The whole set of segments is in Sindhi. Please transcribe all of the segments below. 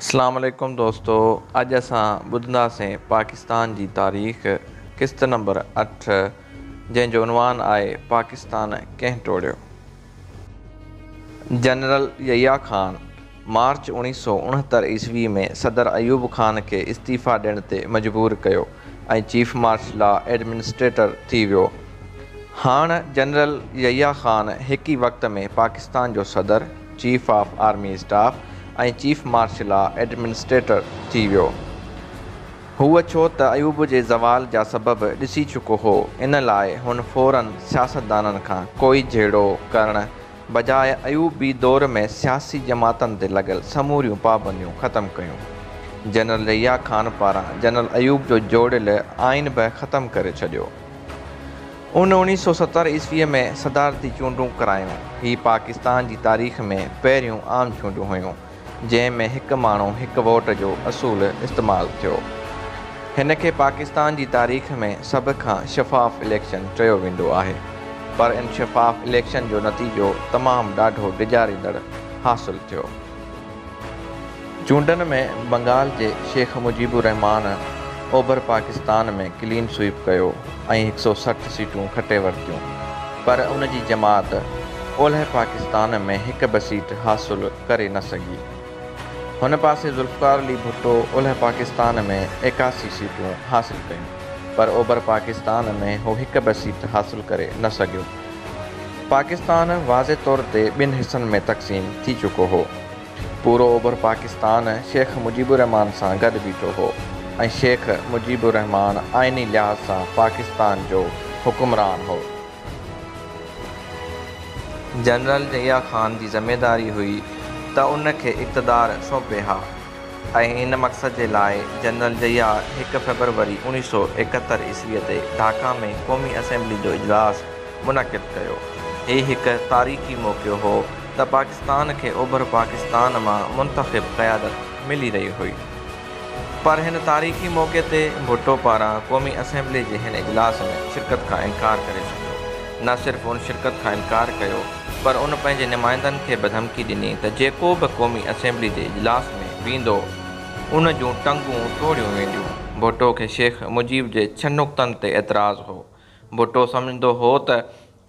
اسلام عليڪم دوستو اڄ اسان ٻڌنداسين پاڪستان جي تاريخ قسط نمبر اٺ جنهن جو عنوان آهي پاڪستان ڪنهن ٽوڙيو. جنرل يحيٰ خان مارچ اوڻيهه سؤ اڻهتر عيسوي ۾ صدر ايوب خان کي استعيفيٰ ڏيڻ تي مجبور ڪيو ۽ چيف مارش لا ايڊمنسٽريٽر ٿي ويو. هاڻ جنرل يحيٰ خان هڪ ئي وقت ۾ پاڪستان جو صدر، chief of army staff ۽ chief martial آ ايڊمنسٽريٽر ٿي ويو. هو ڇو ته ايوب جي زوال جا سبب ڏسي چڪو هو، ان لاء هن فوراً سياستدانن کان ڪوئي جهيڙو ڪرڻ بجاء ايوبي دور ۾ سياسي جماعتن تي لڳل سموريون پابنديون ختم ڪيون. جنرل يحيٰ خان پاران جنرل ايوب جو جوڙيل آئين به ختم ڪري ڇڏيو. ان اوڻيھ سؤ ستر عيسويء ۾ صدارتي چونڊون ڪرايون. هي پاڪستان جي تاريخ ۾ پهريون عام چونڊون هيون، جنهن ۾ هڪ ماڻهو هڪ ووٽ جو اصول استعمال ٿيو. هن کي پاڪستان جي تاريخ ۾ سڀ کان شفاف اليڪشن چيو ويندو آهي. پر ان شفاف اليڪشن جو نتيجو تمام ڏاڍو ڊيڄاريندڙ حاصل ٿيو. چونڊن ۾ بنگال جي شيخ مجيب الرحمان اوڀر پاڪستان ۾ ڪلين سوئيپ ڪيو ۽ هڪ سؤ سٺ سيٽون کٽي ورتيون پر ان جي جماعت اولهه پاڪستان ۾ هڪ به سيٽ حاصل ڪري نه سگهي. هن پاسي ذوالفقار علي ڀٽو اولهه پاڪستان ۾ ايڪاسي سيٽون حاصل ڪيون پر اوڀر پاڪستان ۾ هو هڪ به سيٽ حاصل ڪري نه سگهيو. پاڪستان واضح طور تي ٻن حصن ۾ تقسيم ٿي چڪو هو. پورو اوڀر پاڪستان شيخ مجيب الرحمان سان گڏ بيٺو هو ۽ شيخ مجيب الرحمان آئيني لحاظ سان پاڪستان جو حڪمران هو. جنرل ضياء خان جي ذميواري هئي ته ان کي اقتدار سونپي ها ۽ ان مقصد جي لاء جنرل ضياء هڪ فيبروري اوڻيهه سؤ ايڪهتر عيسويء تي ڍاڪا ۾ قومي اسيمبلي جو اجلاس منعقد ڪيو. هي هڪ تاريخي موقعو هو ته پاڪستان کي اوڀر پاڪستان مان منتخب قيادت ملي رهي هئي. پر هن تاريخي موقعي تي ڀٽو پاران قومي اسيمبلي جي هن اجلاس ۾ شرڪت کان انڪار ڪري ڇڏيو. نه صرف ان شرڪت کان انڪار ڪيو، پر ان پنهنجي نمائندن کي به ڌمڪي ڏني ته جيڪو به قومي اسيمبلي جي اجلاس ۾ ويندو ان جون ٽنگون ٽوڙيون وينديون. ڀٽو کي شيخ مجيب جي ڇهه نقطن تي اعتراض هو. ڀٽو سمجهندو هو ته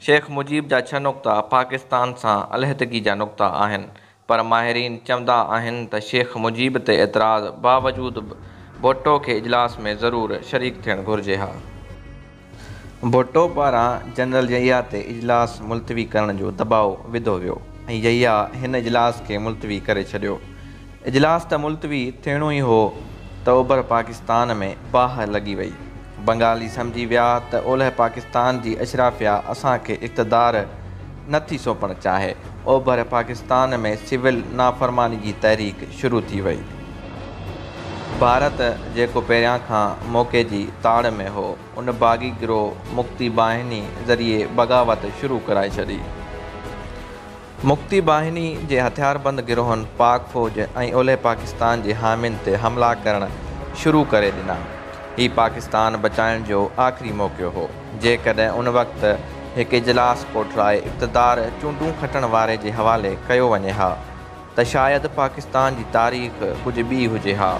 شيخ مجيب جا ڇهه نقطا پاڪستان سان علحدگي جا نقطا آهن پر ماهرين چوندا آهن ته شيخ مجيب تي اعتراض باوجود به ڀٽو کي اجلاس ۾ ضرور شريڪ ٿيڻ گهرجي ها. ڀٽو پاران جنرل يحيٰ تي اجلاس ملتوي ڪرڻ جو دٻاء وڌو ويو ۽ يحيٰ هن اجلاس کي ملتوي ڪري ڇڏيو. اجلاس ته ملتوي ٿيڻو ئي هو ته اوڀر پاڪستان ۾ باهه لڳي وئي. بنگالي سمجهي ويا ته اولهه پاڪستان جي اشرافيا اسان کي اقتدار نه ٿي سونپڻ چاهي. اوڀر پاڪستان ۾ سول نافرماني جي تحريڪ شروع ٿي وئي. ڀارت جيڪو پهريان کان موقعي جي تاڙ ۾ هو، ان باغي گروهه مڪتي باهني ذريعي بغاوت شروع ڪرائي ڇڏي. مڪتي باهني جي هٿياربند گروهن پاڪ فوج ۽ اولهه پاڪستان جي حامين تي حملا ڪرڻ شروع ڪري ڏنا. هي پاڪستان بچائڻ جو آخري موقعو هو. جيڪڏهن ان وقت هڪ اجلاس ڪوٺرائي اقتدار چونڊون کٽڻ واري جي حوالي ڪيو وڃي ها ته شايد پاڪستان جي تاريخ ڪجهه ٻي هجي ها.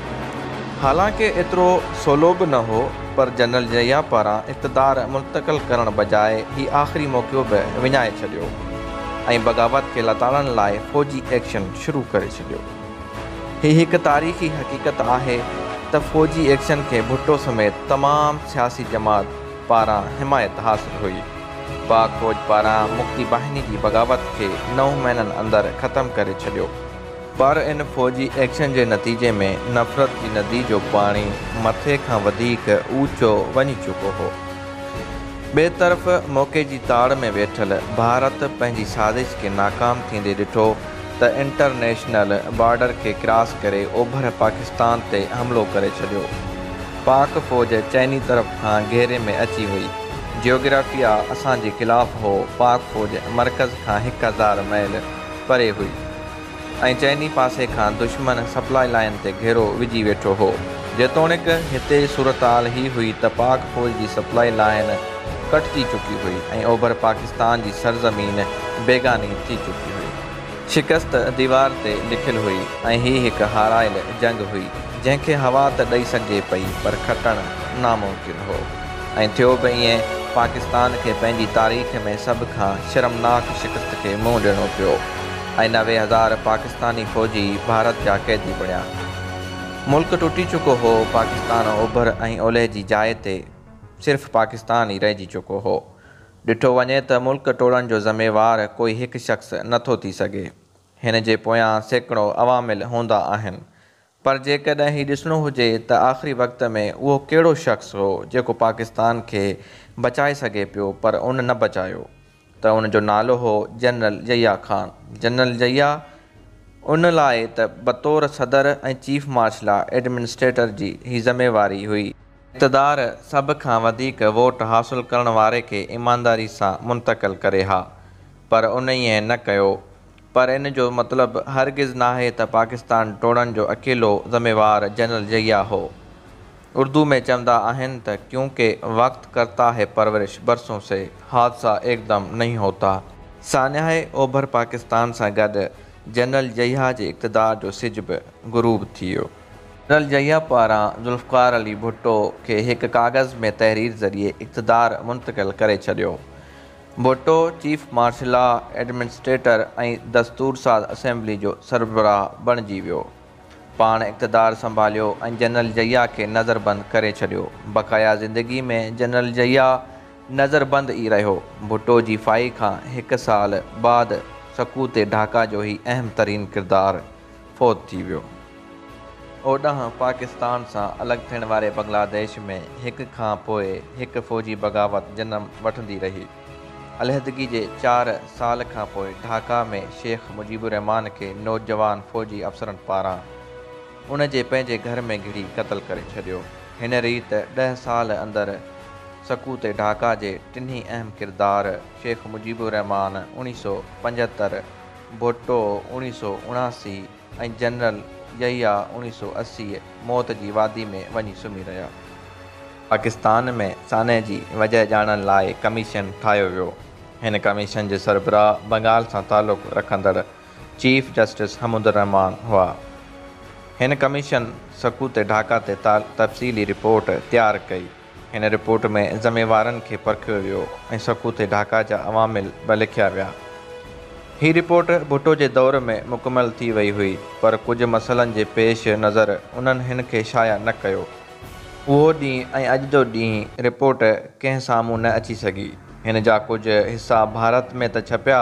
حالانڪ ايترو سولو به نه هو پر جنرل ضياء پاران اقتدار منتقل ڪرڻ بجاء هي آخري موقعو به وڃائي ڇڏيو. ۽ بغاوت کي لتاڙڻ لاء فوجي ايڪشن شروع ڪري ڇڏيو. هي هڪ تاريخي حقيقت آهي ته فوجي ايڪشن کي ڀٽو سميت تمام سياسي جماعت پاران حمايت حاصل هئي. پاڪ فوج پاران مڪتي باهني جي بغاوت کي نو مهينن اندر ختم ڪري ڇڏيو. پر ان فوجي ايڪشن جي نتيجي ۾ نفرت جي ندي جو پاڻي مٿي کان وڌيڪ اوچو وڃي چڪو هو. ٻئي طرف موقعي جي تاڙ ۾ ويٺل ڀارت پنهنجي سازش کي ناڪام ٿيندي ڏٺو ته انٽرنيشنل بارڊر کي ڪراس ڪري اوڀر پاڪستان تي حملو ڪري ڇڏيو. پاڪ فوج چئني طرف کان گهيري ۾ اچي وئي. جيوگرافيا اسان جي خلاف هو، پاڪ فوج مرڪز کان هڪ هزار ميل پري هئي. ۽ چئني پاسي کان دشمن سپلاء لائين تي گهيرو وجهي ويٺو هو. جيتوڻيڪ هتي جي صورتحال هي هئي ته پاڪ فوج جي سپلاء لائين ڪٽجي چڪي هئي ۽ اوڀر پاڪستان جي سرزمين بيگاني ٿي چڪي هئي. شڪست ديوار تي لکيل هئي ۽ هي هڪ هارائل جنگ هئي، جنهن کي هوا ته ڏئي سگهجي پئي پر کٽڻ ناممڪن هو ۽ ٿيو به ائين، پاڪستان کي پنهنجي تاريخ ۾ سڀ کان شرمناڪ شڪست کي منهن ڏيڻو پيو. ۽ نوي هزار پاڪستاني فوجي ڀارت جا قيدي بڻيا. ملڪ ٽٽي چڪو هو، پاڪستان اوڀر ۽ اولهه جي جاء تي صرف پاڪستان ئي رهجي چڪو هو. ڏٺو وڃي ته ملڪ ٽوڙڻ جو ذميوار ڪوئي هڪ شخص نه ٿو ٿي سگهي. هن جي پويان سيڪڙو عوامل هوندا آهن. پر جيڪڏهن هي ڏسڻو هجي ته آخري وقت ۾ اهو ڪهڙو شخص هو جيڪو پاڪستان کي بچائي سگهي پيو پر ان نه بچايو ته ان جو نالو هو جنرل ضيا خان جنرل ضيا ان لاء ته بطور صدر ۽ چيف مارش لا ايڊمنسٽريٽر جي هي ذميواري هئي ته اقتدار سڀ کان وڌيڪ ووٽ حاصل ڪرڻ واري کي ايمانداري سان منتقل ڪري ها پر انهيء نه ڪيو پر ان جو مطلب هرگز ناهي ته پاڪستان ٽوڙڻ جو اڪيلو ذميوار جنرل ضياء هو. اردو ۾ چوندا آهن ته ڪيون ڪي وقت ڪرتا هي پرورش برسون سي حادثا ايڪدم نهين هوتا. ساڃاهه اوڀر پاڪستان سان گڏ جنرل ضياء جي اقتدار جو سج به غروب ٿي ويو. جنرل ضياء پاران ذوالفقار علي ڀٽو کي هڪ ڪاغذ ۾ تحرير ذريعي اقتدار منتقل ڪري ڇڏيو. Bhutto chief martial law, administrator ۽ دستورساز اسيمبلي جو سربراهه بڻجي ويو. پاڻ اقتدار سنڀاليو ۽ جنرل ضياء کي نظربند ڪري ڇڏيو. بقايا زندگي ۾ جنرل ضياء نظربند ئي رهيو. ڀٽو جي ڦاهي کان هڪ سال بعد سقوط ڍاڪا جو هي اهم ترين ڪردار فوت ٿي ويو. اوڏانهن پاڪستان سان الڳ ٿيڻ واري بنگلاديش ۾ هڪ کان پوء هڪ فوجي بغاوت جنم وٺندي رهي. عليحدگي جي چار سال کان پوء ڍاڪا ۾ شيخ مجيب الرحمان کي نوجوان فوجي افسرن پاران ان جي پنهنجي گهر ۾ گهڙي قتل ڪري ڇڏيو. هن ريت ڏهه سال اندر سقوط ڍاڪا جي ٽنهي اهم ڪردار شيخ مجيب الرحمان اڻيهه سؤ پنجهتر، ڀٽو، اوڻيهه سؤ اڻاسي، ۽ جنرل يحيٰ، اوڻيهه سؤ اسي، موت جي وادي ۾ وڃي سمهي رهيا. پاڪستان ۾ سانحي جي وجهه ڄاڻڻ لاء ڪميشن ٺاهيو ويو. هن ڪميشن جي سربراهه بنگال سان تعلق رکندڙ چيف جسٽس حمود الرحمان هئا. هن ڪميشن سقوط ڍاڪا تي تفصيلي رپورٽ تيار ڪئي. هن رپورٽ ۾ ذميوارن کي پرکيو ويو ۽ سکو تي ڍاڪا جا عوامل به لکيا ويا. هي رپورٽ ڀٽو جي دور ۾ مڪمل ٿي وئي هئي پر ڪجهه مسئلن جي پيش نظر انهن هن کي شايع نه ڪيو. اهو ڏينهن ۽ اڄ جو ڏينهن رپورٽ ڪنهن سامهون نه اچي سگهي. هن جا ڪجهه حصا ڀارت ۾ ته ڇپيا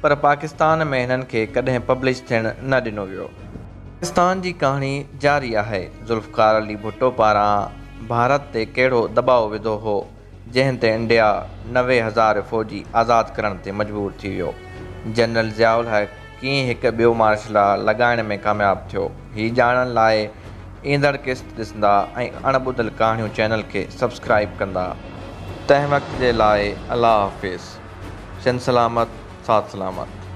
پر پاڪستان ۾ هنن کي ڪڏهن پبلش ٿيڻ نه ڏنو ويو. پاڪستان جي ڪهاڻي جاري آهي. ذوالفقار علي ڀٽو پاران ڀارت تي ڪهڙو دٻاء وڌو هو جنهن تي انڊيا نوي هزار فوجي آزاد ڪرڻ تي مجبور ٿي ويو. جنرل ضياء الحق، ڪيئن هڪ ٻيو مارشل لا لڳائڻ ۾ ڪامياب ٿيو هي ڄاڻڻ لاء ايندڙ قسط ڏسندا ۽ اڻ ٻڌل ڪهاڻيون چينل کي سبسڪرائيب ڪندا تنهن وقت جي لاء الله حافظ شند سلامت ساٿ سلامت.